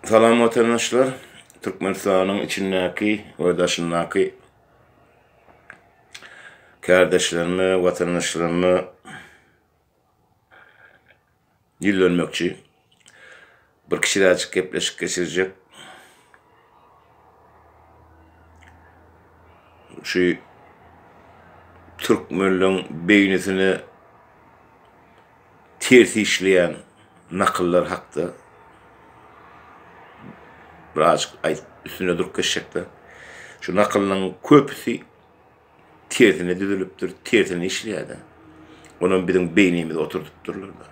Salam watandaşlar. Türkmenistanyň içindäki we daşyndaky kärdeşlerime, watandaşlaryma ýüzlenmekçi. Bir kiçiräjik gepleşik geçirjek. Şu türkmenleň beýnisine Ters işleýän nakyllar hakda birazajyk aýdyp üstünde durup geçjekde. Şu nakyllaryň köpüsi tersine düzülipdir, tersine işleýärdi. Onam biziň beýnimize oturdypdyrlar.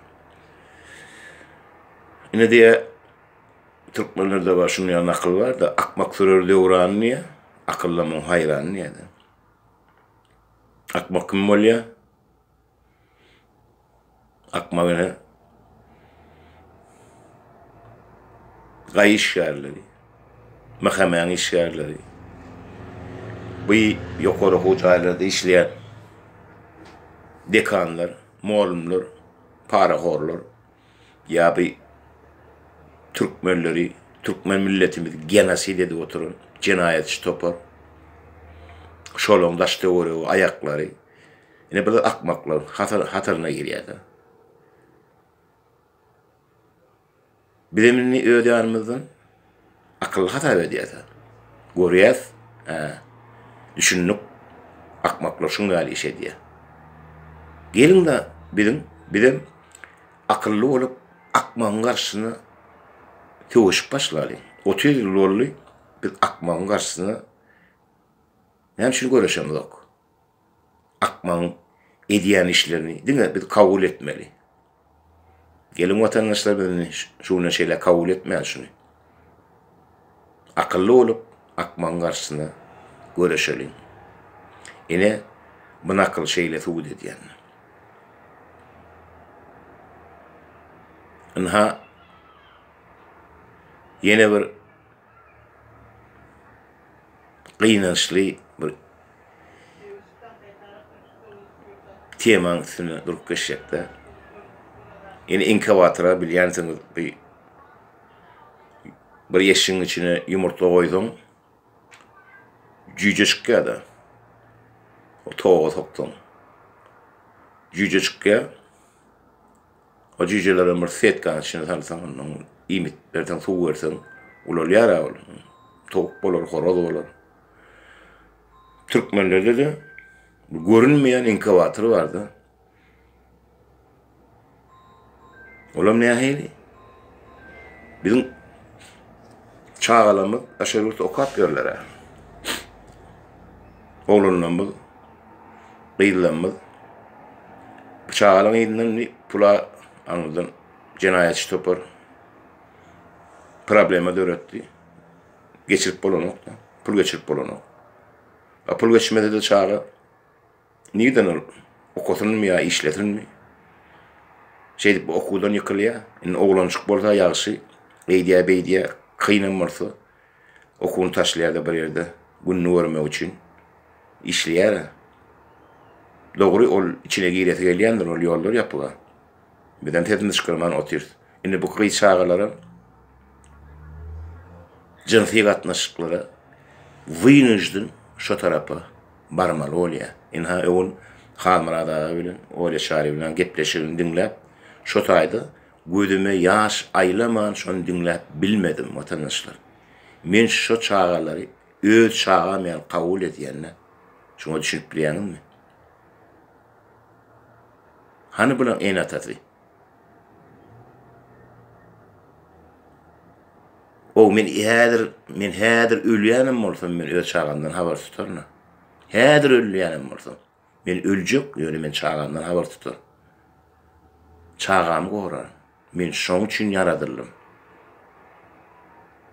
Ine diýä türkmenlerde bar şuny ýa nakyl barda akmak sürer döwran diýä akylly muň haýran diýä. Akmak kim bolýa? Akmal ene gaý işgärleri, mähemäň işgärleri, bu ýokary okuw jaýlarda işleýän dekanlar, mugallymlar parahorlar ýa bu türkmenleri, türkmen milletimizi genosid edip oturan jenaýatçy topar. Şolaryň daş-töweregi, aýaklary. Ine biz akmaklar hataryna girýäda. Bizem indi öz ýanymyzdan akylly hasap edýäda. Görýäs, hä, düşündik, akmaklar şuň ýaly iş edýär. Geliň-de biziň, bizem akylly bolup, akmagyň garşysyna söweşip başlalyň. Otuz ýyl boldy, biz akmagyň garşysyna näme üçin göreşemzok? akmagyň edýän işlerini diňe biz kabul etmeli. Geliň watandaşlar biz indi şu günden şeýle kabul etmäli şuny. Akylly bolup akmagyň garşysyna göreşeliň. Ine bu nakyl şeýle subut edýän. Ynha ýene bir gynançly bir temaň üstünde durup geçjekde. Ýene inkubatora bilýänsiňiz bir bir yeşigiň içine ýumurtga goýsaň jüýje çykýar-da. O toga soksaň. Jüýje çykýar. O jüýjelerem bir setkanyň içine salsaň, ondan iýmit berseň, suw berseň, ulalýar-a ol. Towuk bolar, horaz bolar. Türkmenlerde-de görünmeýän inkubator bar-da. Olam nähili? Biziň çagalarymyz daşary ýurtda okap ýörler-ä. Oglanlarymyz gyzlarymyz pyçalyň yzyndan bir pula aňyrdan jenaýatçy topar problema döretdi. Geçirip bolanok da, pul geçirip bolanok. A pul geçmese de çaga nirden ol okasynmy ýa işlesinmi? Şeýdip okuwdan ýykylýar. Indi oglanjyk bolsa ýagşy, eýdýär-beýdýär, kynam bolsa Okuny taşlaýar-da bir ýerde gününi görmek üçin işleýär-ä. Dogry, ol içine giresi gelýändir, ol ýollar ýapyk-a. Bizem sesimizi çykarman otyrys. Indi bu gyz çagalaram jynsy gatnaşyklara wynujden şo tarapa barmaly bolýar. Ynha, öwün Halmyrat aga bilen Olýa Çaryýewna gepleşigini diňläp, şo taýda Gözüme ýaş aýlaman şony diňläp bilmedim watandaşlar. Men şo çagalary öz çagam ýaly kabul edýända şoňa düşünip bilýäňizmi? Hany bulaň ene atasy? Ow men häzir men häzir ölýänem bolsam men öz çagamdan habar tutaryn a. Häzir ölýänem bolsam. Men öljek, ýöne men çagamdan habar tutar. Çagamy gorar. Men şoň üçin ýaradyldym.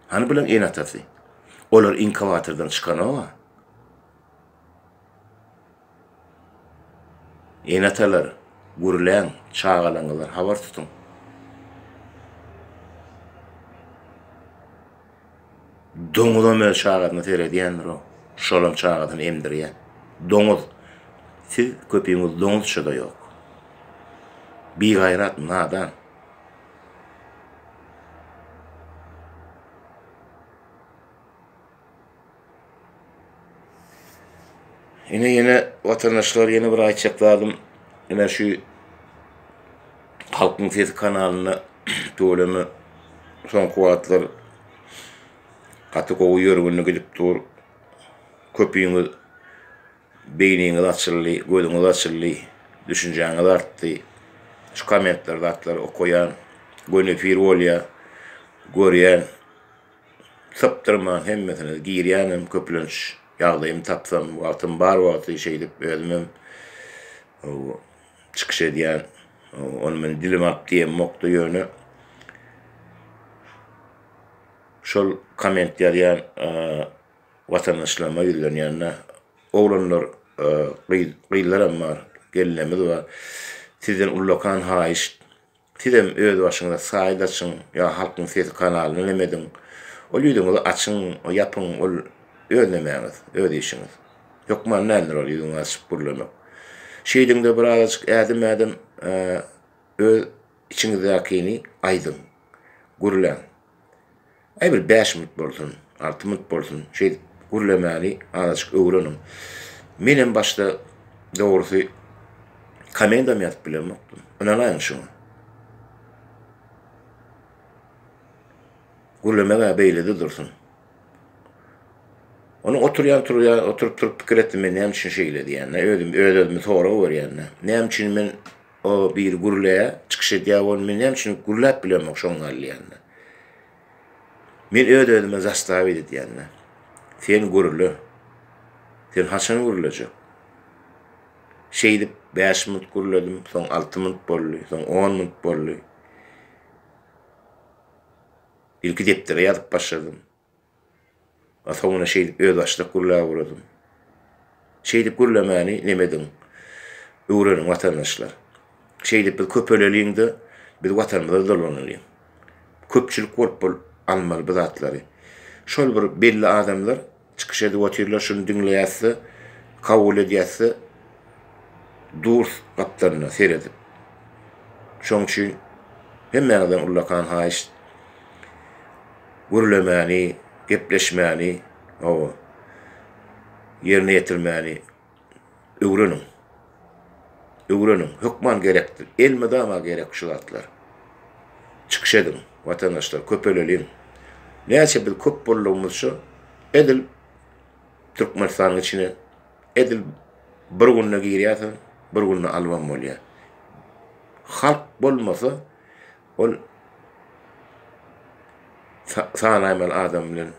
Hany bulan ene-atasy? Olar inkubatordan çykanok-a. Ene-atalar, gürläň, çagalaňyzdan habar tutuň. Doňuzam öz çagasyna seredýändir-ow. Şolam çagasyny emdirýär. Doňuz. Siz köpiňiz doňuzça-da ýok. Bigaýrat, nadan. Ine ýene watandaşlar ýene bir aýtjak zadym ine şu Halkyň sesi kanalyna tüweleme soňky wagtlar gaty gowy ýörgünli gidip dur. Köpüňiz beýniňiz açyldy, gözüňiz açyldy, düşünjäňiz artdy. Şu kommentler zatlary okaýan, göni efir bolýar, görýän. Sypdyrman hemmesine girýänem köplenç ýagdaýym tapsam wagtym bar wagty şeýdip özümem çykyş edýän ony men dilim ap diýemokda ýöne şol komment ýazýan watandaşlaryma ýüzlenýände oglanlar gyzlaram bar gelnemiz bar sizden ullakan haýyşt Sizem öz başyňyza saýt açyň ýa Halkyň sesi kanalyny ünem ediň. Ol ýüzüňizi açyň, ýapyň, ol öz nemäňiz, öz işiňiz. Hökman däldir ol ýüzüňi açyp gürlemek. Şeýdiňde birazajyk ädim-ädim öz içiňizdäkini aýdyň, gürläň. Aý bir bäş minut bolsun, alty minut bolsun, şeýdip gürlemäni azajyk öwreniň. Menem başda dogrusy komendam ýazyp bilemokdym. Ynanaýyň şuňa. Gürlemek-ä beýlede dursun. Onuň oturýan turýan, oturyp-turup pikir etdim men näme üçin şeýle diýende, özüm öz-özüme sorag berýän-de. Näme üçin men O biri gürleýä, çykyş edýä ol men näme üçin gürläp bilemok şoň gal diýende. Men öz özüme zastavit edýände. Sen gürle. Sen haçan gürlejek? Şeýdip bäş minut gürledim, soň alty minut boldy, soň on minut boldy. Ilki depdere ýazyp başladym. Atomyna şeýdip özbaşdak gürläp uradym. Şeýdip gürlemäni nem ediň. Öwreniň watandaşlar. Şeýdip biz köpeleliň-de, biz watanymyza dolanylyň. Köpçülik bolup bol almaly bu zatlary. Şol bir belli adamlar çykyş edip otyrlar şuny diňleýäs-de, kabul edýäs-de durs gapdalynda seredip. Şoň üçin hemmäňizden ullakan haýyşt gürlemäni, gepleşmäni, hawa, ýerine ýetirmäni öwreniň. Öwreniň, hökman gerekdir, elmydama gerek şu zatlar. Çykyş ediň, watandaşlar, köpeleliň. Näçe biz köp boldugymyzça, edil Türkmenistanyň içine edil bir günde girýärsiň, bir günde albam bolýar. Halk bolmasa, Ol sanaýmaly adam bilen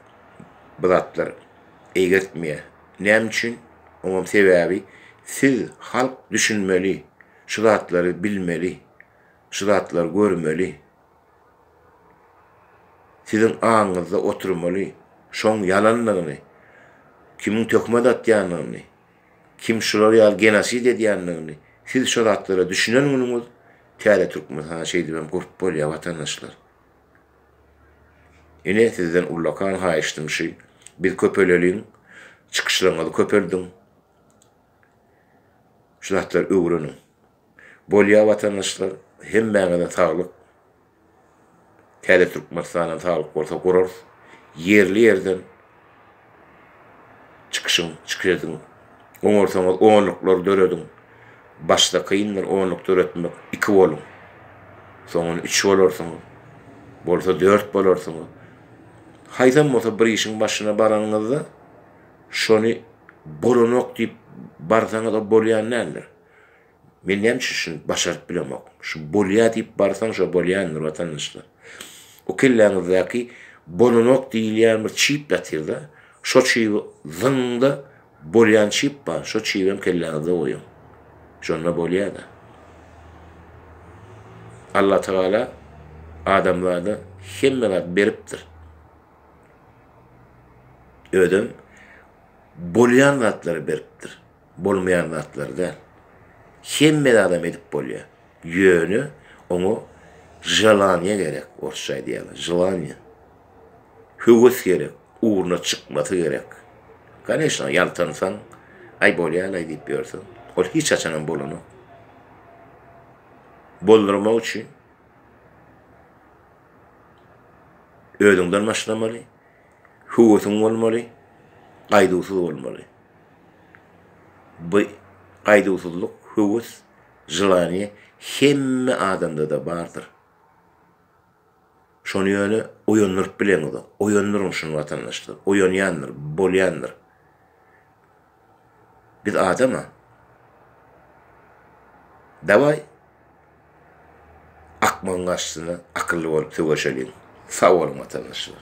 bu zatlar eýgertmeýär. Näme üçin? Oňam sebäbi siz halk düşünmeli, şu zatlary bilmeli, şu zatlary görmeli. Siziň aňyňyzda oturmaly şoň ýalandygyny, kimiň töhmet atýandygyny. Kim şular ýaly genosid edýändigini siz şu zatlara düşünen günüňiz täze Türkmenistan şeýdip hem gurup bolýar watandaşlar. Ine sizden ullakan haýyştym şy biz köpeleliň çykyşlaryňyzy köpeldiň şu zatlary öwreniň. Bolýa watandaşlar hemmäňize saglyk täze Türkmenistanam saglyk bolsa gurarys ýerli ýerden çykyşyň çykyş ediň oňarsaňyz onluklar dörediň başda kyndyr onluk döretmek iki boluň soňun üç bolarsyňyz bolsa dört bolarsyňyz haýsam bolsa bir işiň başyna baranyňyzda şony bolanok diýip barsaňyz o bolýan däldir. Men näme üçin şuny başaryp bilemok? Şu bolýar diýip barsaň, şo bolýandyr, watandaşlar. O kelläňizdäki bolanok diýilýän bir çip ýatyr-da, şo çibi zyňyň-da, bolýan çip bar, şo çibem kelläňizde goýuň. Şonda bolýar-da. Allatagala adamzada hemme zat beripdir. Özem bolýan zatlary beripdir. bolmaýan zatlar däl. Hemme zadam edip bolýar. Ýöne oňa želaniýe gerek, orsça aýdýarlar, želaniýe. Höwes gerek, ugruna çykmasy gerek. Koneşno, ýaltansaň, aý bolýar-laý diýip ýörseň, ol hiç haçanam bolanok. Boldurmak üçin özüňden başlamaly, höwesiň bolmaly, gaýduwsyz bolmaly. Bu gaýduwsyzlyk, höwes, želaniýe hemme adamda-da bardyr. Şony ýöne oýandyryp bileňizok. Oýandyryň şuny watandaşlar. Oýanýandyr, bolýandyr. Biz adam-a. Dawaý, akmagyň garşysyna akylly bolup söweşeliň. Sag boluň watandaşlar.